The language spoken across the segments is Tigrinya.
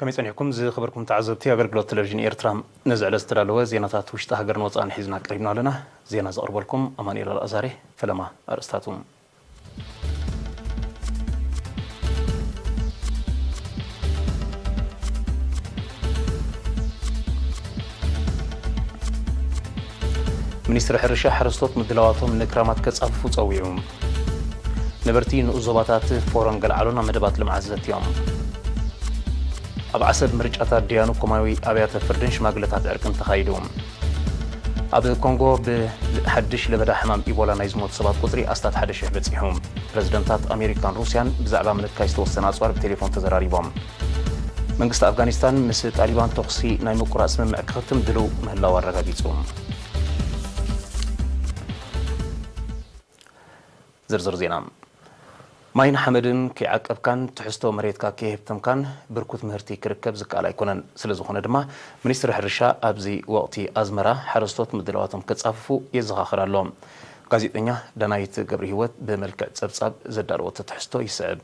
ከመይ ጸኒሕኩም ዝኸበርኩም ተዓዘብቲ ኣገልግሎት ተለቪዥን ኤርትራ፣ ነዚ ዕለት ዝተዳለወ ዜናታት ውሽጢ ሃገርን ወጻእን ሒዝና ቀሪብና ኣለና። ዜና ዘቕርበልኩም ኣማኑኤል ኣልኣዛርየ። ፈለማ ኣርእስታቱ። ሚኒስትሪ ሕርሻ፣ ሓረስቶት ምድላዋቶም ንክራማት ከጻፍፉ ጸዊዑ። ነበርቲ ንኡስ ዞባታት ፎሮን ገልዓሎ ናብ መደባት ልምዓት ዘትዮም። ኣብ ዓሰብ ምርጫታት ደያኑ ኮማዊ ኣብያተ ፍርድን ሽማግለታት ዕርቅን ተኻይዱ። ኣብ ኮንጎ ብሓድሽ ለበዳ ሕማም ኢቦላ ናይ ዝሞቱ ሰባት ቁጽሪ ኣስታት ሓደ ሽሕ በጺሑ። ፕረዚደንታት ኣሜሪካን ሩስያን ብዛዕባ ምንካይ ዝተወሰነ ኣጽዋር ብቴሌፎን ተዘራሪቦም። መንግስቲ ኣፍጋኒስታን ምስ ጣሊባን ተኹሲ ናይ ምቁራፅ ስምምዕ ክኽትም ድልው ምህላው ኣረጋጊፁ። ዝርዝር ዜና ማይን ሓመድን ከይዓቀብካን ትሕዝቶ መሬትካ ከይህብተምካን ብርኩት ምህርቲ ክርከብ ዝከኣል ኣይኮነን። ስለዝኾነ ድማ ሚኒስትሪ ሕርሻ ኣብዚ ወቕቲ ኣዝመራ ሓረስቶት ምድላዋቶም ከፃፍፉ የዘኻኽር ኣሎ። ጋዜጠኛ ዳናይት ገብሪሂወት ብመልክዕ ፀብፃብ ዘዳለወቶ ትሕዝቶ ይስዕብ።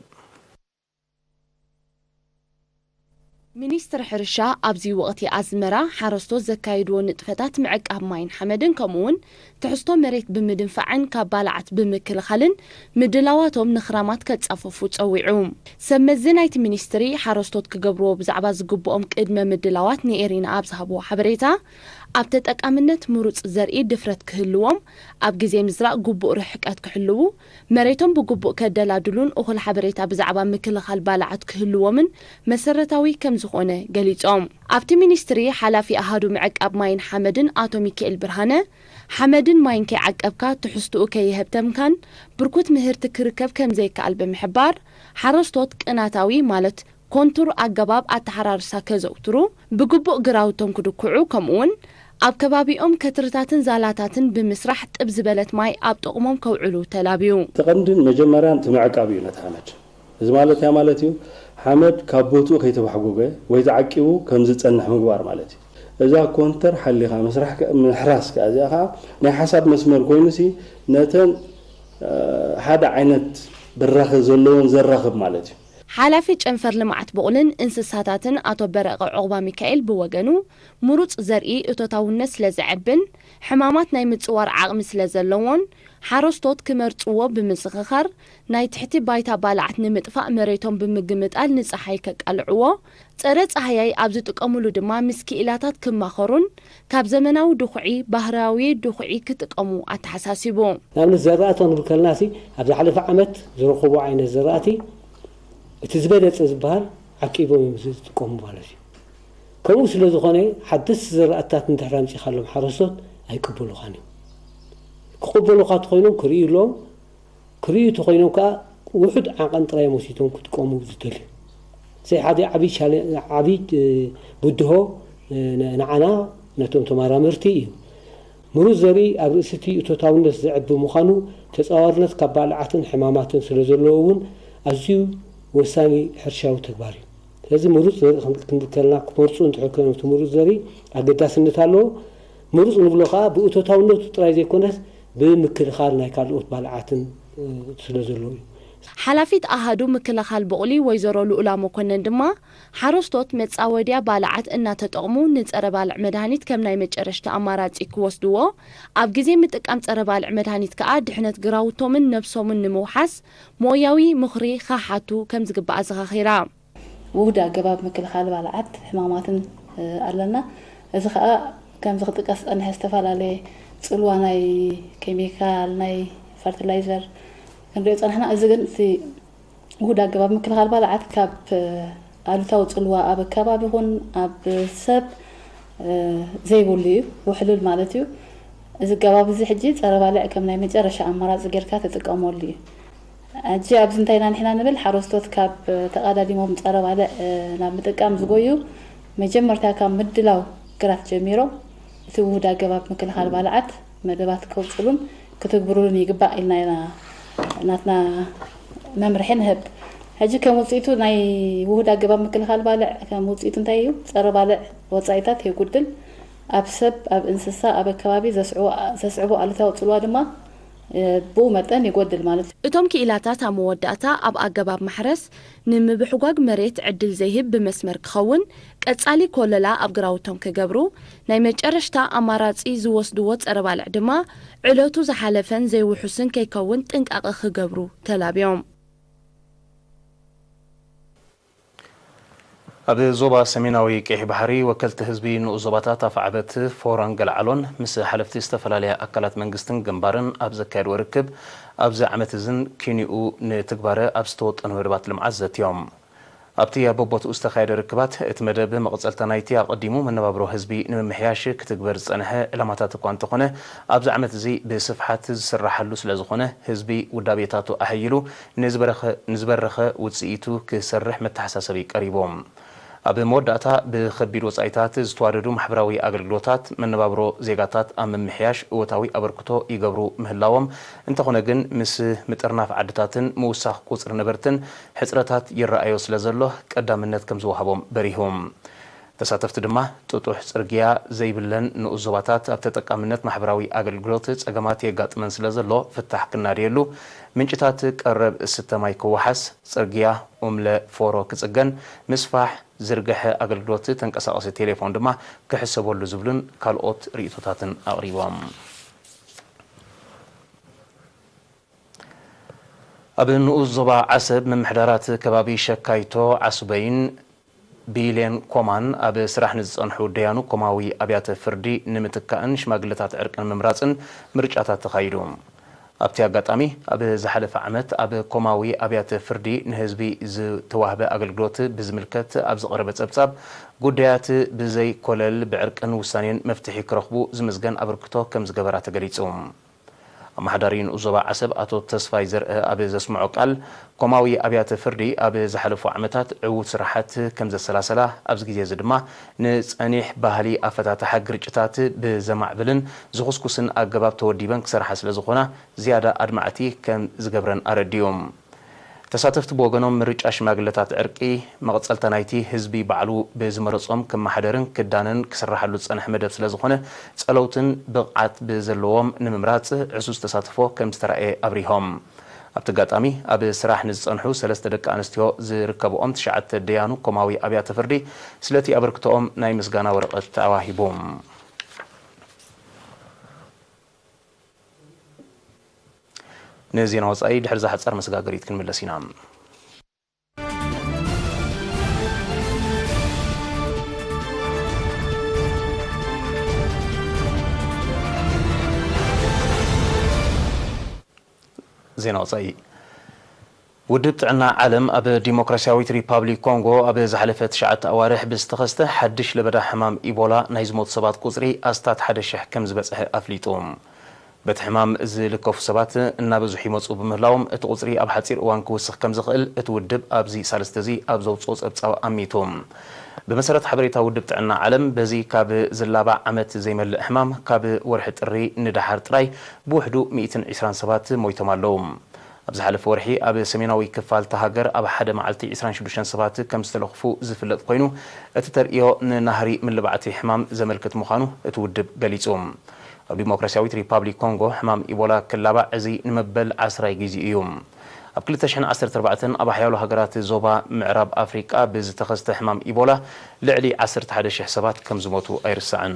ሚኒስትሪ ሕርሻ ኣብዚ ወቕቲ ኣዝመራ ሓረስቶት ዘካይድዎ ንጥፈታት ምዕቃብ ማይን ሓመድን ከምኡ'ውን ትሕዝቶ መሬት ብምድንፋዕን ካብ ባልዓት ብምክልኻልን ምድላዋቶም ንኽራማት ከጻፈፉ ጸዊዑ። ሰብ መዚ ናይቲ ሚኒስትሪ ሓረስቶት ክገብርዎ ብዛዕባ ዝግብኦም ቅድመ ምድላዋት ንኤሪና ኣብ ዝሃብዎ ሓበሬታ ኣብ ተጠቃምነት ምሩጽ ዘርኢ ድፍረት ክህልዎም፣ ኣብ ግዜ ምዝራእ ግቡእ ርሕቀት ክሕልዉ፣ መሬቶም ብግቡእ ከደላድሉን እኹል ሓበሬታ ብዛዕባ ምክልኻል ባልዓት ክህልዎምን መሰረታዊ ከምዝኾነ ገሊፆም። ኣብቲ ሚኒስትሪ ሓላፊ ኣሃዱ ምዕቃብ ማይን ሓመድን ኣቶ ሚኪኤል ብርሃነ፣ ሓመድን ማይን ከይዓቀብካ ትሕዝትኡ ከየሀብተምካን ብርኩት ምህርቲ ክርከብ ከምዘይከኣል ብምሕባር፣ ሓረስቶት ቅናታዊ ማለት ኮንቱር ኣገባብ ኣተሓራርሳ ከዘውትሩ፣ ብግቡእ ግራውቶም ክድኩዑ ከምኡ'ውን ኣብ ከባቢኦም ከትርታትን ዛላታትን ብምስራሕ ጥብ ዝበለት ማይ ኣብ ጥቕሞም ከውዕሉ ተላብዩ። እቲ ቀንድን መጀመርያን እቲ ምዕቃብ እዩ ነቲ ሓመድ። እዚ ማለት እንታይ ማለት እዩ? ሓመድ ካብ ቦትኡ ከይተባሕጎገ ወይ ተዓቂቡ ከም ዝጸንሕ ምግባር ማለት እዩ። እዛ ኮንተር ሓሊኻ ምስራሕ፣ ምሕራስ፣ ከኣ እዚኣ ከኣ ናይ ሓሳብ መስመር ኮይኑሲ ነተን ሓደ ዓይነት በራኸ ዘለወን ዘራኽብ ማለት እዩ። ሓላፊ ጨንፈር ልምዓት ብቑልን እንስሳታትን ኣቶ በረቐ ዑቕባሚካኤል ብወገኑ፣ ምሩፅ ዘርኢ እቶታውነት ስለዘዕብን ሕማማት ናይ ምፅዋር ዓቕሚ ስለዘለዎን ሓረስቶት ክመርፅዎ ብምዝኽኻር፣ ናይ ትሕቲ ባይታ ባልዓት ንምጥፋእ መሬቶም ብምግምጣል ንፀሓይ ከቃልዕዎ፣ ጸረ-ጻህያይ ኣብ ዝጥቀሙሉ ድማ ምስ ክኢላታት ክማኸሩን ካብ ዘመናዊ ድኹዒ ባህርያዊ ድኹዒ ክጥቀሙ ኣተሓሳሲቡ። ንኣብነት ዘራእቲ ክንብል ከለናሲ ኣብ ዝሓለፈ ዓመት ዝረኸቡ ዓይነት ዘራእቲ እቲ ዝበለጸ ዝበሃል ዓቂቦም እዮም ዝጥቀሙ ማለት እዩ። ከምኡ ስለ ዝኾነ ሓደስቲ ዘራእትታት እንድሕር ኣምጺኻሎም ሓረስቶት ኣይቅበሉኻን እዮም። ክቕበሉኻ ተኾይኖም ክርእዩሎም ክርእዩ እንተኾይኖም ከኣ ውሑድ ዓቐን ጥራይ እዮም ወሲዶም ክጥቀሙ ዝደልዩ። እዚ ሓደ ዓቢ ብድሆ ንዓና ነቶም ተመራመርቲ እዩ። ምሩጽ ዘርኢ ኣብ ርእሲ'ቲ እቶታውነት ዘዕቢ ምዃኑ ተጻዋርነት ካብ ባልዓትን ሕማማትን ስለዘለዎ እውን ኣዝዩ ወሳኒ ሕርሻዊ ተግባር እዩ። ስለዚ ምሩጽ ዘርኢ ክንብል ከለና ክመርጹ እንድሕር ኮይኖም እቲ ምሩጽ ዘርኢ ኣገዳስነት ኣለዎ። ምሩፅ ንብሎ ከኣ ብእቶታውነቱ ጥራይ ዘይኮነስ ብምክልኻል ናይ ካልኦት ባልዓትን ስለ ዘሎ እዩ። ሓላፊት ኣሃዱ ምክልኻል ቡቕሊ ወይዘሮ ልኡላ መኮነን ድማ ሓረስቶት መፃወድያ ባልዓት እናተጠቕሙ ንፀረ ባልዕ መድሃኒት ከም ናይ መጨረሽታ ኣማራፂ ክወስድዎ ኣብ ግዜ ምጥቃም ፀረ ባልዕ መድሃኒት ከኣ ድሕነት ግራውቶምን ነብሶምን ንምውሓስ ሞያዊ ምኽሪ ኸሓቱ ከምዝግባእ ኣዘኻኺራ። ውሁድ ኣገባብ ምክልኻል ባልዓት ሕማማትን ኣለና። እዚ ከኣ ከምዚ ክጥቀስ ዝጸንሐ ዝተፈላለየ ጽልዋ ናይ ኬሚካል፣ ናይ ፈርቲላይዘር ክንሪኦ ጸንሕና። እዚ ግን እቲ ውሁድ ኣገባብ ምክልኻል ባልዓት ካብ ኣሉታዊ ጽልዋ ኣብ ኣከባቢ ይኹን ኣብ ሰብ ዘይብሉ እዩ፣ ውሕሉል ማለት እዩ። እዚ ኣገባብ እዚ ሕጂ ጸረ ባልዕ ከም ናይ መጨረሻ ኣማራጺ ጌርካ ትጥቀመሉ እዩ። ሕጂ ኣብዚ እንታይ ኢና ንሕና ንብል ሓረስቶት ካብ ተቓዳዲሞም ጸረ ባልዕ ናብ ምጥቃም ዝጎዩ መጀመርታ ካብ ምድላው ግራት ጀሚሮም እቲ ውሁድ ኣገባብ ምክልኻል ባልዓት መደባት ከውጽሉን ክትግብሩሉን ይግባእ ኢልና ኢና ናትና መምርሒ ንህብ። ሕጂ ከም ውጽኢቱ ናይ ውሁድ ኣገባብ ምክልኻል ባልዕ ከም ውጽኢቱ እንታይ እዩ? ጸረ ባልዕ ወጻኢታት የጉድል፣ ኣብ ሰብ፣ ኣብ እንስሳ፣ ኣብ ኣከባቢ ዘስዕቦ ኣሉታዊ ጽልዋ ድማ ብኡ መጠን ይጎድል ማለት እዩ። እቶም ክኢላታት ኣብ መወዳእታ ኣብ ኣገባብ ማሕረስ ንምብሕጓግ መሬት ዕድል ዘይህብ ብመስመር ክኸውን፣ ቀጻሊ ኮለላ ኣብ ግራውቶም ክገብሩ፣ ናይ መጨረሽታ ኣማራጺ ዝወስድዎ ጸረ-ባልዕ ድማ ዕለቱ ዝሓለፈን ዘይውሑስን ከይከውን ጥንቃቐ ክገብሩ ተላብዮም። ኣብ ዞባ ሰሜናዊ ቀይሕ ባሕሪ ወከልቲ ህዝቢ ንኡስ ዞባታት ኣፍዓበት፣ ፎሮን ገልዓሎን ምስ ሓለፍቲ ዝተፈላለያ ኣካላት መንግስትን ግንባርን ኣብ ዘካየድዎ ርክብ ኣብዚ ዓመት እዝን ኪንኡ ንትግባረ ኣብ ዝተወጠኑ መደባት ልምዓት ዘትዮም። ኣብቲ ኣብ በቦትኡ ዝተኻየደ ርክባት እቲ መደብ መቐፀልታ ናይቲ ኣቐዲሙ መነባብሮ ህዝቢ ንምምሕያሽ ክትግበር ዝፀንሐ ዕላማታት እኳ እንተኾነ ኣብዚ ዓመት እዚ ብስፍሓት ዝስራሓሉ ስለዝኾነ ህዝቢ ውዳቤታቱ ኣሐይሉ ንዝበረኸ ንዝበረኸ ውጽኢቱ ክሰርሕ መተሓሳሰቢ ቀሪቡ። ኣብ መወዳእታ፣ ብኸቢድ ወጻኢታት ዝተዋደዱ ማሕበራዊ ኣገልግሎታት፣ መነባብሮ ዜጋታት ኣብ ምምሕያሽ እወታዊ ኣበርክቶ ይገብሩ ምህላዎም፣ እንተኾነ ግን ምስ ምጥርናፍ ዓድታትን ምውሳኽ ቁጽሪ ነበርትን ሕጽረታት ይረኣዮ ስለዘሎ ቀዳምነት ከምዝወሃቦም በሪሁ። ተሳተፍቲ ድማ ጥጡሕ ጽርግያ ዘይብለን ንኡስ ዞባታት ኣብ ተጠቃምነት ማሕበራዊ ኣገልግሎት ጸገማት የጋጥመን ስለዘሎ ፍታሕ ክናደየሉ፣ ምንጭታት ቀረብ እስተ ማይ ክወሓስ፣ ጽርግያ ኡምለ ፎሮ ክጽገን፣ ምስፋሕ ዝርገሐ ኣገልግሎት ተንቀሳቐሲ ቴሌፎን ድማ ክሕሰበሉ ዝብሉን ካልኦት ርእይቶታትን ኣቕሪቦም። ኣብ ንኡስ ዞባ ዓሰብ ምምሕዳራት ከባቢ ሸካይቶ፣ ዓሱበይን፣ ብይሌን ኮማን ኣብ ስራሕ ንዝጸንሑ ደያኑ ኮማዊ ኣብያተ ፍርዲ ንምትካእን ሽማግለታት ዕርቂ ንምምራጽን ምርጫታት ተኻይዱ። ኣብቲ ኣጋጣሚ፣ ኣብ ዝሓለፈ ዓመት ኣብ ኮማዊ ኣብያተ ፍርዲ ንህዝቢ ዝተዋህበ ኣገልግሎት ብዝምልከት ኣብ ዝቐረበ ጸብጻብ፣ ጉዳያት ብዘይ ኮለል ብዕርቅን ውሳኔን መፍትሒ ክረኽቡ ዝምዝገን ኣበርክቶ ከም ዝገበራ ተገሊጹ። ኣመሓዳሪ ንኡስ ዞባ ዓሰብ ኣቶ ተስፋይ ዘርእ ኣብ ዘስመዖ ቃል፣ ኮማዊ ኣብያተ ፍርዲ ኣብ ዝሓለፉ ዓመታት ዕዉት ስራሓት ከምዘሰላሰላ ኣብዚ ግዜ እዚ ድማ ንጸኒሕ ባህሊ ኣፈታትሓ ግርጭታት ብዘማዕብልን ዝኹስኩስን ኣገባብ ተወዲበን ክሰርሓ ስለዝኾና ዝያዳ ኣድማዕቲ ከምዝገብረን ኣረዲኡ። ተሳተፍቲ ብወገኖም ምርጫ ሽማግለታት ዕርቂ መቐፀልታ ናይቲ ህዝቢ ባዕሉ ብዝመረፆም ክመሓደርን ክዳነን ክስራሓሉ ዝፀንሐ መደብ ስለዝኾነ ፀለውትን ብቕዓት ብዘለዎም ንምምራፅ ዕዙዝ ተሳትፎ ከምዝተራእየ ኣብሪሆም። ኣብቲ ኣጋጣሚ ኣብ ስራሕ ንዝፀንሑ ሰለስተ ደቂ ኣንስትዮ ዝርከበኦም ትሽዓተ ደያኑ ኮማዊ ኣብያተ ፍርዲ ስለቲ ኣበርክቶኦም ናይ ምስጋና ወረቐት ኣዋሂቡም። ንዜና ወፃኢ ድሕሪ እዛ ሓፃር መሰጋገሪት ክንምለስ ኢና። ዜና ወፃኢ። ውድብ ጥዕና ዓለም ኣብ ዲሞክራሲያዊት ሪፓብሊክ ኮንጎ ኣብ ዝሓለፈ ትሽዓተ ኣዋርሕ ብዝተኸስተ ሓድሽ ለበዳ ሕማም ኢቦላ ናይ ዝሞቱ ሰባት ቁጽሪ ኣስታት ሓደ ሽሕ ከምዝበጽሐ ኣፍሊጡ። በቲ ሕማም ዝልከፉ ሰባት እናበዝሑ ይመጽኡ ብምህላዎም እቲ ቁጽሪ ኣብ ሓጺር እዋን ክውስኽ ከምዝኽእል እቲ ውድብ ኣብዚ ሳልስቲ'ዚ ኣብ ዘውጽኦ ጸብጻብ ኣሚቱ። ብመሰረት ሓበሬታ ውድብ ጥዕና ዓለም በዚ ካብ ዝላባዕ ዓመት ዘይመልእ ሕማም ካብ ወርሒ ጥሪ ንደሓር ጥራይ ብውሕዱ ሚእትን ዕስራን ሰባት ሞይቶም ኣለዉ። ኣብ ዝሓለፈ ወርሒ ኣብ ሰሜናዊ ክፋል'ታ ሃገር ኣብ ሓደ መዓልቲ ዕስራን ሽዱሽተን ሰባት ከም ዝተለኽፉ ዝፍለጥ ኮይኑ፣ እቲ ተርእዮ ንናህሪ ምልባዕ'ቲ ሕማም ዘመልክት ምዃኑ እቲ ውድብ ገሊጹ። ኣብ ዲሞክራስያዊት ሪፓብሊክ ኮንጎ ሕማም ኢቦላ ክላባዕ እዚ ንመበል ዓስራይ ግዜኡ እዩ። ኣብ ክልተ ሽሕን ዓሰርተ ኣርባዕተን ኣብ ሓያሎ ሃገራት ዞባ ምዕራብ ኣፍሪቃ ብዝተኸስተ ሕማም ኢቦላ ልዕሊ ዓሰርተ ሓደ ሽሕ ሰባት ከም ዝሞቱ ኣይርሳዕን።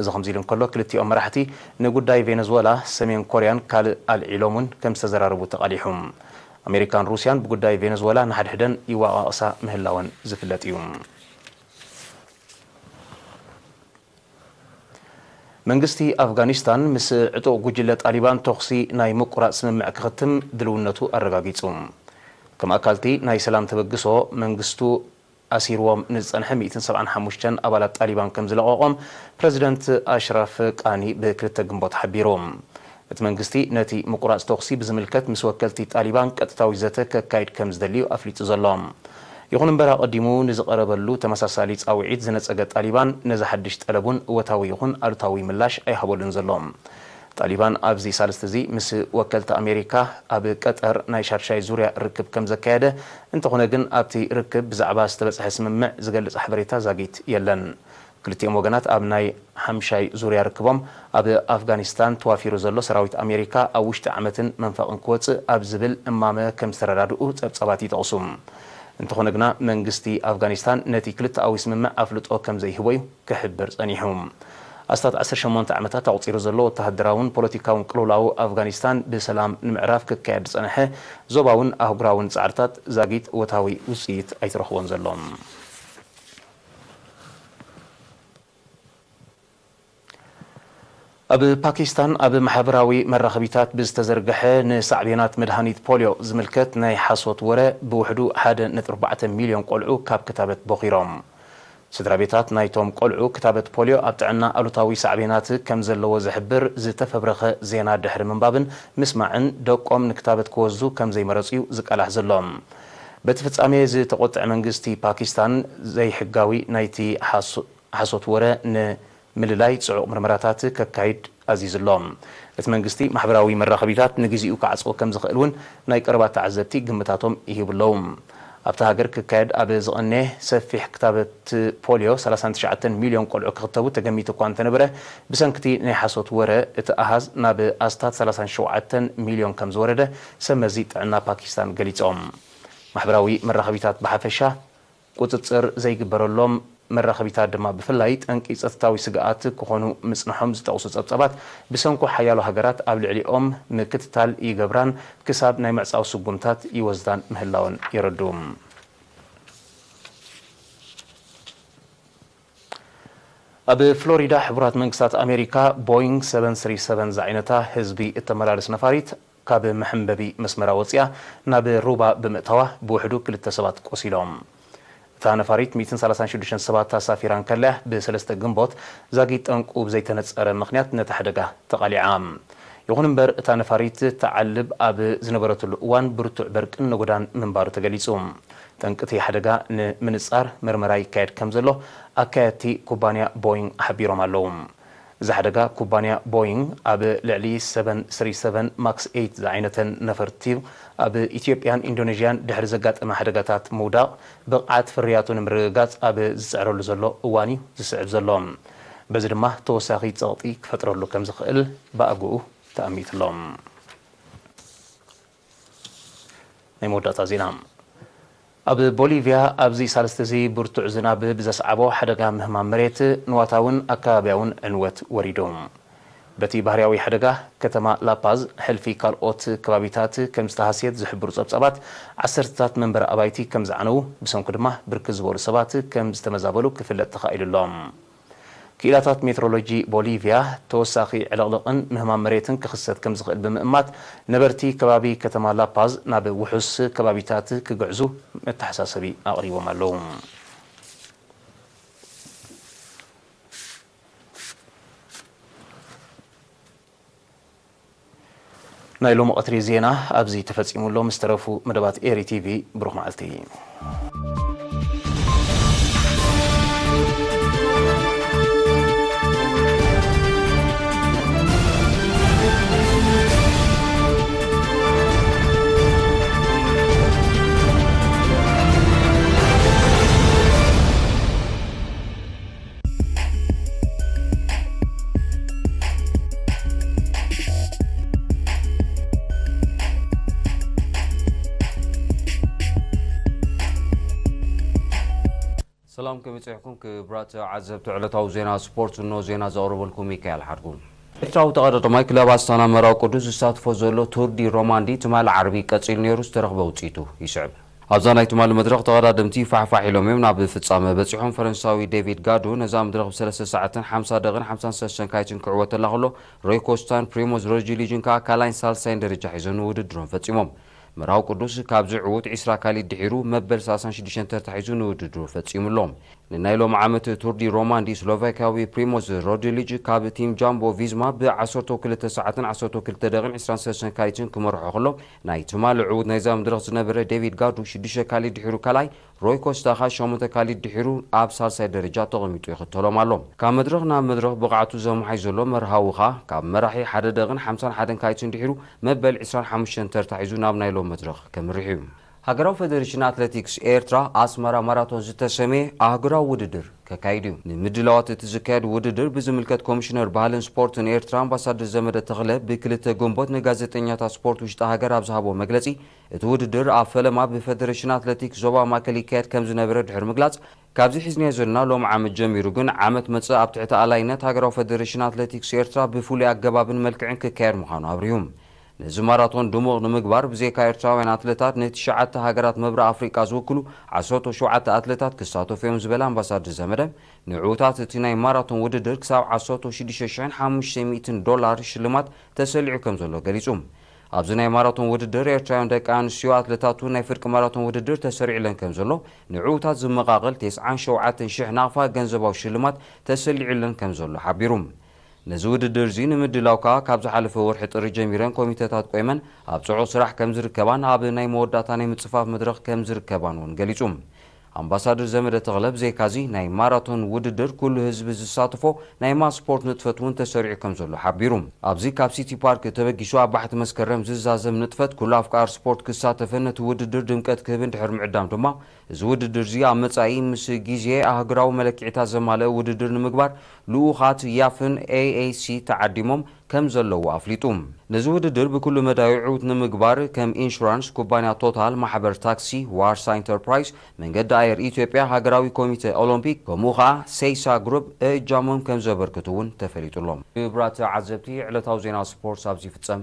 እዚ ከምዚ ኢሉ እንከሎ፣ ክልቲኦም መራሕቲ ንጉዳይ ቬነዝወላ፣ ሰሜን ኮርያን ካልእ ኣልዒሎም'ውን ከምዝተዘራረቡ ተቓሊሑ። ኣሜሪካን ሩስያን ብጉዳይ ቬነዝወላ ንሓድሕደን ይወቓቕሳ ምህላወን ዝፍለጥ እዩ። መንግስቲ ኣፍጋኒስታን ምስ ዕጡቕ ጉጅለ ጣሊባን ተኹሲ ናይ ምቁራጽ ስምምዕ ክኽትም ድልውነቱ ኣረጋጊጹ። ከም ኣካል'ቲ ናይ ሰላም ተበግሶ መንግስቱ፣ ኣሲርዎም ንዝጸንሐ ሚእትን ሰብዓን ሓሙሽተን ኣባላት ጣሊባን ከምዝለቐቖም ፕረዚደንት ኣሽራፍ ቃኒ ብ ክልተ ግንቦት ሓቢሩ። እቲ መንግስቲ ነቲ ምቁራጽ ተኹሲ ብዝምልከት ምስ ወከልቲ ጣሊባን ቀጥታዊ ዘተ ከካይድ ከምዝደሊ'ዩ ኣፍሊጡ ዘሎ። ይኹን'ምበር ኣቐዲሙ ንዝቐረበሉ ተመሳሳሊ ጻውዒት ዝነጸገ ጣሊባን ነዚ ሓድሽ ጠለብ ውን እወታዊ ይኹን ኣሉታዊ ምላሽ ኣይሃበሉን ዘሎ። ጣሊባን ኣብዚ ሳልስቲ'ዚ ምስ ወከልቲ ኣሜሪካ ኣብ ቀጠር ናይ ሻድሻይ ዙርያ ርክብ ከም ዘካየደ፣ እንተኾነ ግን ኣብቲ ርክብ ብዛዕባ ዝተበጽሐ ስምምዕ ዝገልጽ ሓበሬታ ዛጊት የለን። ክልቲኦም ወገናት ኣብ ናይ ሓምሻይ ዙርያ ርክቦም ኣብ ኣፍጋኒስታን ተዋፊሩ ዘሎ ሰራዊት ኣሜሪካ ኣብ ውሽጢ ዓመትን መንፈቕን ክወጽእ ኣብ ዝብል እማመ ከም ዝተረዳድኡ ጸብጻባት ይጠቕሱ። እንተኾነ ግና መንግስቲ ኣፍጋኒስታን ነቲ ክልተኣዊ ስምምዕ ኣፍልጦ ከም ዘይህቦ'ዩ ክሕብር ጸኒሑ። ኣስታት ዓሰርተ ሸሞንተ ዓመታት ኣቑጺሩ ዘሎ ወተሃደራውን ፖለቲካውን ቅልውላው ኣፍጋኒስታን ብሰላም ንምዕራፍ ክካየድ ዝጸንሐ ዞባውን ኣህጉራውን ጻዕርታት ዛጊት እወታዊ ውጽኢት ኣይተረኽቦን ዘሎ። ኣብ ፓኪስታን ኣብ ማሕበራዊ መራኸቢታት ብዝተዘርገሐ ንሳዕቤናት መድሃኒት ፖልዮ ዝምልከት ናይ ሓሶት ወረ ብውሕዱ ሓደ ነጥቢ ኣርባዕተ ሚልዮን ቆልዑ ካብ ክታበት ቦኺሮም። ስድራቤታት ናይቶም ቆልዑ ክታበት ፖልዮ ኣብ ጥዕና ኣሉታዊ ሳዕቤናት ከም ዘለዎ ዝሕብር ዝተፈብረኸ ዜና ድሕሪ ምንባብን ምስማዕን ደቆም ንክታበት ክወስዱ ከም ዘይመረጹ'ዩ ዝቃላሕ ዘሎ። በቲ ፍጻሜ ዝተቖጥዐ መንግስቲ ፓኪስታን ዘይሕጋዊ ናይቲ ሓሶት ወረ ን ምልላይ ጽዑቕ ምርመራታት ከካይድ ኣዚዙ ኣሎ። እቲ መንግስቲ ማሕበራዊ መራኸቢታት ንግዚኡ ክዓጽዎ ከም ዝኽእል እውን ናይ ቀረባ ተዓዘብቲ ግምታቶም ይህቡ ኣለዉ። ኣብታ ሃገር ክካየድ ኣብ ዝቐነየ ሰፊሕ ክታበት ፖልዮ ሰላሳን ትሽዓተን ሚልዮን ቆልዑ ክኽተቡ ተገሚቱ እኳ እንተነበረ ብሰንኪ'ቲ ናይ ሓሶት ወረ እቲ ኣሃዝ ናብ ኣስታት ሰላሳን ሸውዓተን ሚልዮን ከም ዝወረደ ሰብመዚ ጥዕና ፓኪስታን ገሊጾም። ማሕበራዊ መራኸቢታት ብሓፈሻ ቁፅፅር ዘይግበረሎም መራኸቢታት ድማ ብፍላይ ጠንቂ ፀጥታዊ ስግኣት ክኾኑ ምፅንሖም ዝጠቕሱ ፀብፃባት፣ ብሰንኩ ሓያሎ ሃገራት ኣብ ልዕሊኦም ምክትታል ይገብራን ክሳብ ናይ ምዕፃው ስጉምታት ይወስዳን ምህላወን የረድኡ። ኣብ ፍሎሪዳ ሕቡራት መንግስታት ኣሜሪካ ቦይንግ ሰቨን ስሪ ሰቨን ዝዓይነታ ህዝቢ እተመላልስ ነፋሪት ካብ መሐንበቢ መስመራ ወጺኣ ናብ ሩባ ብምእታዋ ብውሕዱ ክልተ ሰባት ቆሲሎም። እታ ነፋሪት ሚእትን ሰላሳን ሽዱሽተን ሰባት ኣሳፊራ እንከላ'ያ ብ ሰለስተ ግንቦት ዛጊት ጠንቁ ብዘይተነጸረ ምኽንያት ነቲ ሓደጋ ተቓሊዓ። ይኹን እምበር እታ ነፋሪት ትዓልብ ኣብ ዝነበረትሉ እዋን ብርቱዕ በርቅን ነጎዳን ምንባሩ ተገሊጹ። ጠንቂ'ቲ ሓደጋ ንምንጻር መርመራ ይካየድ ከምዘሎ ኣካየድቲ ኩባንያ ቦይንግ ሓቢሮም ኣለዉ። እዚ ሓደጋ ኩባንያ ቦይንግ ኣብ ልዕሊ ሰቨን ስሪ ሰቨን ማክስ ኤይት ዝዓይነተን ነፈርቲ ኣብ ኢትዮጵያን ኢንዶነዥያን ድሕሪ ዘጋጠመ ሓደጋታት ምውዳቕ ብቕዓት ፍርያቱ ንምርግጋፅ ኣብ ዝፅዕረሉ ዘሎ እዋን እዩ ዝስዕብ ዘሎ። በዚ ድማ ተወሳኺ ፀቕጢ ክፈጥረሉ ከምዝኽእል ብኣግኡ ተኣሚትሎም። ናይ መወዳእታ ዜና ኣብ ቦሊቭያ ኣብዚ ሳልስቲ'ዚ ብርቱዕ ዝናብ ብዘስዓቦ ሓደጋ ምህማም መሬት፣ ንዋታውን ኣከባብያውን ዕንወት ወሪዱ። በቲ ባህርያዊ ሓደጋ፣ ከተማ ላፓዝ ሕልፊ ካልኦት ከባቢታት ከም ዝተሃስየት ዝሕብሩ ጸብጻባት፣ ዓሰርተታት መንበሪ ኣባይቲ ከም ዝዓነዉ፣ ብሰንኩ ድማ ብርክት ዝበሉ ሰባት ከም ዝተመዛበሉ ክፍለጥ ተኻኢሉ ኣሎ። ክኢላታት ሜትሮሎጂ ቦሊቭያ፣ ተወሳኺ ዕልቕልቕን ምህማም መሬትን ክኽሰት ከምዝኽእል ብምእማት፣ ነበርቲ ከባቢ ከተማ ላፓዝ ናብ ውሑስ ከባቢታት ክግዕዙ መተሓሳሰቢ ኣቕሪቦም ኣለዉ። ናይ ሎሚ ቐትሪ ዜና ኣብዚ ተፈጺሙ ኣሎ ምስ ተረፉ መደባት ኤሪ ቲቪ ብሩኽ መዓልቲ። ሰላም ከመይፅሕኩም ክብራት ዓዘብቲ ዕለታዊ ዜና ስፖርት እኖ ዜና ዘቕርበልኩም ሚካኤል ሓድጉ ኤርትራዊ ተቐዳዳማይ ክለብ ኣስታና መራዊ ቅዱስ ዝሳትፎ ዘሎ ቱር ዲ ሮማንዲ ትማሊ ዓርቢ ቀፂሉ ነይሩ ዝተረኽበ ውፅኢቱ ይስዕብ ኣብዛ ናይ ትማሊ መድረኽ ተቐዳደምቲ ፋሕ ፋሕ ኢሎም እዮም ናብ ፍጻመ በጺሖም። ፈረንሳዊ ዴቪድ ጋዱ ነዛ መድረኽ ብ ሰለስተ ሰዓትን ሓምሳ ደቕን ሓምሳን ሰለስተ ሰንካይትን ክዕወተላ ከሎ ሮይ ኮስታን ፕሪሞዝ ሮጅሊጅን ከኣ ካልኣይን ሳልሳይን ደረጃ ሒዞን ውድድሮም ፈጺሞም። መርሃዊ ቅዱስ ካብዚ ዕዉት ዒስራ ካሊድ ድሒሩ መበል ሰላሳን ሽዱሽተን ተርታ ሒዙ ንውድድሩ ፈጺሙ ኣሎ። ንናይ ሎሚ ዓመት ቱር ዲ ሮማንዲ ስሎቫኪያዊ ፕሪሞዝ ሮድሊጅ ካብ ቲም ጃምቦ ቪዝማ ብ ዓሰርተው ክልተ ሰዓትን ዓሰርተው ክልተ ደቕን ዒስራን ሰለስተ ሰንካይትን ክመርሖ ከሎ ናይ ትማሊ ዕዉት ናይዛ መድረኽ ዝነበረ ዴቪድ ጋዱ ሽዱሽተ ካሊድ ድሒሩ ካልኣይ፣ ሮይ ኮስታ ከኣ ሸሞንተ ካሊድ ድሒሩ ኣብ ሳልሳይ ደረጃ ተቐሚጡ ይኽተሎም ኣሎ። ካብ መድረኽ ናብ መድረኽ ብቕዓቱ ዘመሓይሽ ዘሎ መርሃዊ ከኣ ካብ መራሒ ሓደ ደቕን ሓምሳን ሓደን ካሊትን ድሒሩ መበል ዕስራን ሓሙሽተን ተርታ ሒዙ ናብ ናይ ሎም መድረኽ ከምርሕ'ዩ። ሃገራዊ ፈደሬሽን ኣትለቲክስ ኤርትራ ኣስመራ ማራቶን ዝተሰምየ ኣህጉራዊ ውድድር። ከካይድ እዩ። ንምድላዋት እቲ ዝካየድ ውድድር ብዝምልከት ኮሚሽነር ባህልን ስፖርትን ኤርትራ ኣምባሳደር ዘመደ ተኽለ ብ ክልተ ግንቦት ንጋዜጠኛታት ስፖርት ውሽጢ ሃገር ኣብ ዝሃቦ መግለጺ እቲ ውድድር ኣብ ፈለማ ብፈደረሽን ኣትለቲክስ ዞባ ማእከል ይካየድ ከምዝነበረ ድሕሪ ምግላጽ ካብዚ ሒዝናዮ ዘለና ሎሚ ዓመት ጀሚሩ ግን ዓመት መጽእ ኣብ ትሕቲ ኣላይነት ሃገራዊ ፈደረሽን ኣትለቲክስ ኤርትራ ብፍሉይ ኣገባብን መልክዕን ክካየድ ምዃኑ ኣብሪሁ። ነዚ ማራቶን ድሙቕ ንምግባር ብዘይካ ኤርትራውያን ኣትለታት ንትሽዓተ ሃገራት መብርእ ኣፍሪቃ ዝውክሉ ዓሰርተው ሸውዓተ ኣትለታት ክሳተፉ'ዮም ዝበለ ኣምባሳድር ዘመደ፣ ንዕዉታት እቲ ናይ ማራቶን ውድድር ክሳብ ዓሰርተው ሽዱሽተ ሽሕን ሓሙሽተ ሚእትን ዶላር ሽልማት ተሰሊዑ ከምዘሎ ገሊጹ። ኣብዚ ናይ ማራቶን ውድድር ኤርትራውያን ደቂ ኣንስትዮ ኣትለታት'ውን ናይ ፍርቂ ማራቶን ውድድር ተሰሪዑለን ከምዘሎ፣ ንዕዉታት ዝመቓቕል ቴስዓን ሸውዓተን ሽሕ ናቕፋ ገንዘባዊ ሽልማት ተሰሊዑለን ከምዘሎ ሓቢሩ። ነዚ ውድድር'ዚ ንምድላው ከኣ ካብ ዝሓለፈ ወርሒ ጥሪ ጀሚረን ኮሚተታት ቆይመን ኣብ ጽዑቕ ስራሕ ከምዝርከባን ኣብ ናይ መወዳእታ ናይ ምጽፋፍ መድረኽ ከምዝርከባን ውን ገሊጹ። ኣምባሳድር ዘመደ ተኽለ ብዘይካ'ዚ ናይ ማራቶን ውድድር ኩሉ ህዝቢ ዝሳተፎ ናይ ማስ ስፖርት ንጥፈት ውን ተሰሪዑ ከምዘሎ ሓቢሩ። ኣብዚ ካብ ሲቲ ፓርክ ተበጊሱ ኣብ ባሕቲ መስከረም ዝዛዘም ንጥፈት ኩሉ ኣፍቃር ስፖርት ክሳተፍን ነቲ ውድድር ድምቀት ክህብን ድሕሪ ምዕዳም ድማ እዚ ውድድር'ዚ ኣብ መጻኢ ምስ ግዜ ኣህጉራዊ መለክዒታት ዘማልእ ውድድር ንምግባር ልኡኻት ያፍን AAC ተዓዲሞም ከም ዘለዉ ኣፍሊጡ። ነዚ ውድድር ብኩሉ መዳዩ ዕውት ንምግባር ከም ኢንሹራንስ፣ ኩባንያ ቶታል፣ ማሕበር ታክሲ፣ ዋርሳ ኢንተርፕራይዝ፣ መንገዲ ኣየር ኢትዮጵያ፣ ሃገራዊ ኮሚተ ኦሎምፒክ ከምኡ ከኣ ሴይሳ ግሩፕ እእጃሞም ከም ዘበርክቱ'ውን ተፈሊጡ'ሎ። ክብራት ተዓዘብቲ ዕለታዊ ዜና ስፖርት ኣብዚ ይፍጸም።